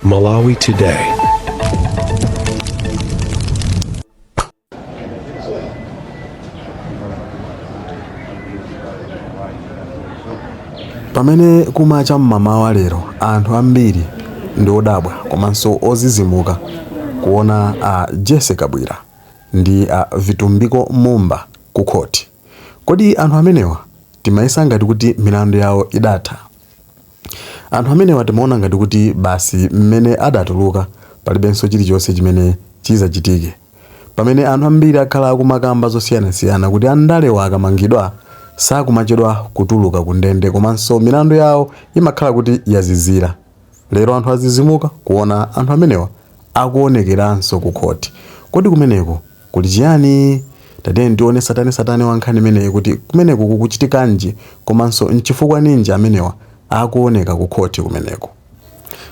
Malawi Today. pamene kumacha cha mmamawa lero anthu ambiri ndi odabwa komanso ozizimuka kuona a jesse kabwira ndi a vitumbiko mumba ku khoti kodi anthu amenewa timayesa ngati kuti milandu yawo idatha Anthu amenewa timaona ngati kuti basi mmene adatuluka palibenso chilichonse chimene chizachitike. Pamene anthu ambiri akhala akumakamba zosiyanasiyana kuti andalewa akamangidwa sakumachedwa kutuluka kundende komanso milandu yawo imakhala kuti yazizira. Lero anthu azizimuka kuona anthu amenewa akuonekeranso ku court kodi kumeneko kuli chiyani? Tatiyeni tione tsatanetsatane wa nkhani imeneyi kuti kumeneko kukuchitikanji komanso nchifukwa ninji amenewa akuoneka ku court kumeneko.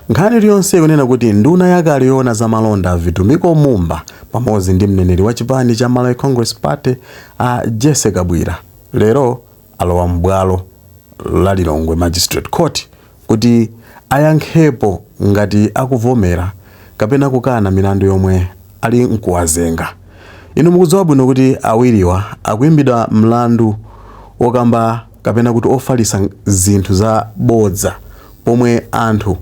Nkhani iliyonse ikunena kuti nduna yakale yoona za malonda a Vitumbiko Mumba pamodzi ndi mneneri wa chipani cha Malawi Congress Party a Jesse Kabwira lero alowa m'bwalo la Lilongwe Magistrate Court kuti ayankhepo ngati akuvomera kapena kukana milandu yomwe ali nkuwazenga. Inu mukudziwa bwino kuti awiriwa akuimbidwa mlandu okamba kapena kuti ofalisa zinthu za bodza pomwe anthu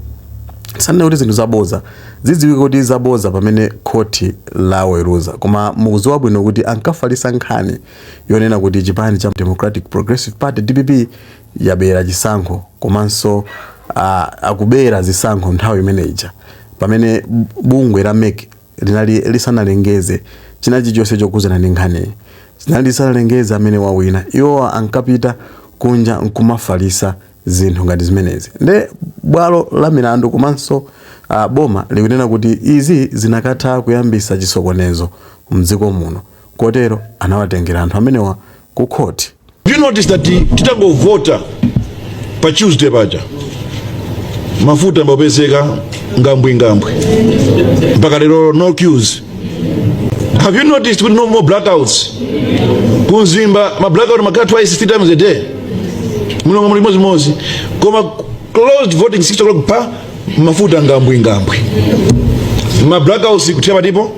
sanene kuti zinthu zabodza zidziwike kuti zabodza pamene khoti laweruza koma mukudziwa bwino kuti ankafalisa nkhani yonena kuti chipani cha Democratic Progressive Party, dpp, yabera chisankho komanso a, akubera zisankho nthawi imene ija pamene bungwe la mec linali lisanalengeze china chilichonse chokhudzana ndi nkhaniyi linali lisanalengeze amene wawina iwo ankapita kunja nkumafalisa zinthu ngati zimenezi nde bwalo la milandu komanso uh, boma likunena kuti izi zinakatha kuyambisa chisokonezo mdziko muno kotero anawatengera anthu amenewa ku court. Do you notice that titangovota cha Tuesday paja mafuta ambapezeka ngambwingambwi mpaka lero no queues. Have you noticed kuti no more blackouts ku Mzimba ma blackout amakhala twice three times a day mu Lilongwe chimodzimodzi koma closed voting 6 o'clock pa mafuta ngambwingambwi ma blackouts kuthera patipo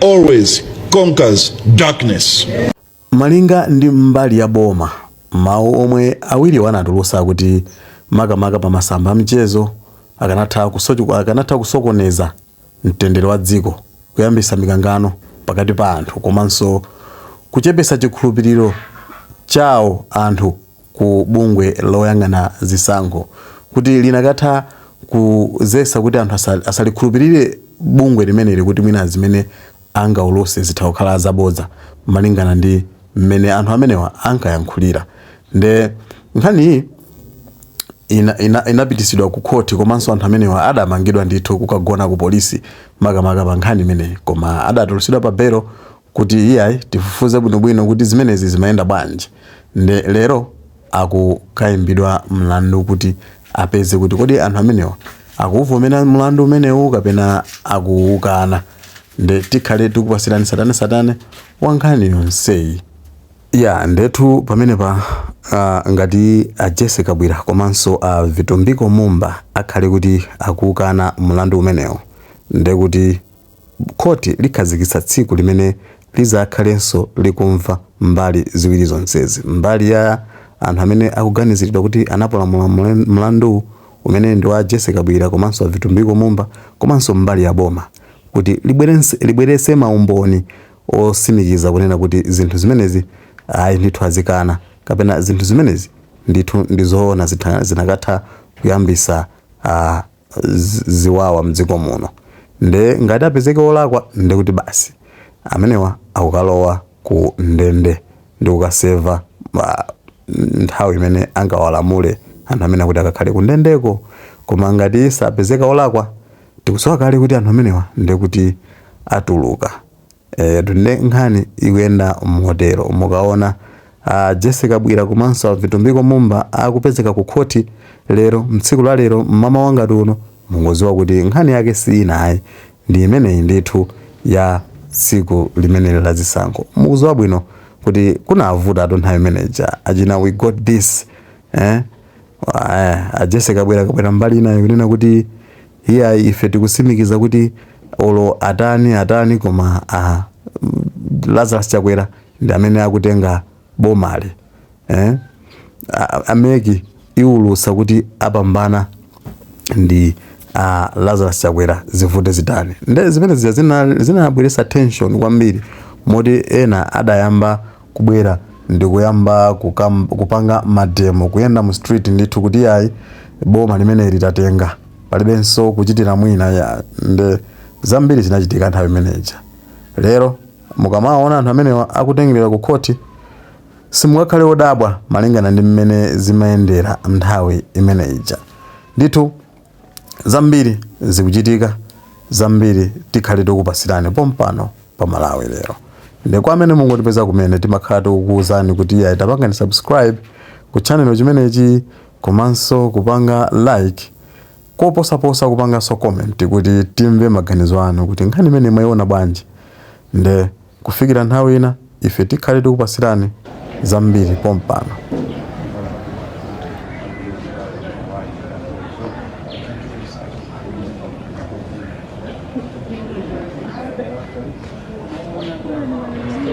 always conquers darkness. malinga ndi mbali ya boma mawu omwe awiriwo anatulusa akuti makamaka pa masamba a mchezo akanatha kusokoneza mtendere wa dziko kuyambisa mikangano pakati pa anthu komanso kuchepesa chikhulupiriro chawo anthu ku bungwe loyang'ana zisankho kuti linakatha kuzesa kuti anthu asalikhulupirire bungwe limeneli kuti mwina zimene lingauluse zitha kukhala zabodza malingana ndi mmene anthu amenewa ankayankhulira nde nkhaniyi ina, ina, inapitisidwa ku khoti komanso anthu amenewa adamangidwa ndithu kukagona ku polisi makamaka pa nkhani imeneyi koma adatulusidwa pa belo kuti iyayi tifufuze bwinobwino kuti zimenezi zimayenda bwanji nde lero akukaimbidwa mlandu kuti apeze kuti kodi anthu amenewa akuwuvomera mlandu umenewu kapena akuwukana nde tikhale tikupasirani satanesatane wa nkhani yonseyi ya ndetu pamenepa uh, ngati a Jesse Kabwira komanso a uh, Vitumbiko Mumba akhale kuti akuukana mlandu umenewu ndekuti Khoti likhazikitsa tsiku limene lidzakhalenso likumva mbali ziwiri zonsezi, mbali ya anthu amene akuganiziridwa kuti anapalamula mlanduwu, umene ndi wa a Jessie Kabwira komanso a Vitumbiko Mumba, komanso mbali ya boma kuti libweretse maumboni otsimikiza kunena kuti zinthu zimenezi ayi ndithu azikana kapena zinthu zimenezi ndithu ndi zoona zinakatha kuyambitsa ziwawa mdziko muno nde ngati apezeke olakwa ndekuti basi amenewa akukalowa ku ndende ndikukaseva nthawi imene angawalamule anthu amenewa kuti akakhale ku ndendeko koma ngati sapezeka olakwa tikuziwa kale kuti anthu amenewa ndekuti atuluka Eyetu nde nkhani ikuyenda motero. Mukaona a Jessie Kabwira komanso a Vitumbiko Mumba akupezeka ku khoti lero, tsiku la lero mmamawa ngati uno, mungoziwa kuti nkhani yake si ina ayi, ndi imeneyi ndithu ya tsiku limeneli la zisankho. Mukuziwa bwino kuti kunavutatu nthawi imene ija. Achina we got this, eh, a Jessie Kabwira akabwera mbali inayi kunena kuti. Iyayi ife tikusimikiza kuti olo atani atani koma a Lazarus Chakwera ndi amene akutenga bomali eh? A MEC iwulutsa kuti apambana ndi a Lazarus Chakwera zivute zitani. Nde zimene zija zinabweretsa tension kwambiri moti ena adayamba kubwera ndikuyamba kupanga mademo, kuyenda mu street ndithu kuti yayi boma limeneli tatenga, palibenso kuchitira mwina iyayi nde zambiri zinachitika nthawi imene ija. Lero mukamawaona anthu amenewa akutengeredwa ku khoti simukakhale odabwa malingana ndi mmene zimayendera nthawi imene ija ndithu. zambiri zikuchitika zambiri tikhale tokupasirani pompano pa malawi lero nde kwa amene mungotipeza kumene timakhala tokuwuzani kuti iyayi tapangani subscribe ku channel chimenechi komanso kupanga like koposaposa kupanganso comment kuti timve maganizo anu kuti nkhani imene mwayiona bwanji nde Kufikira nthawi ina ife tikhale tikupasirani zambiri pompano.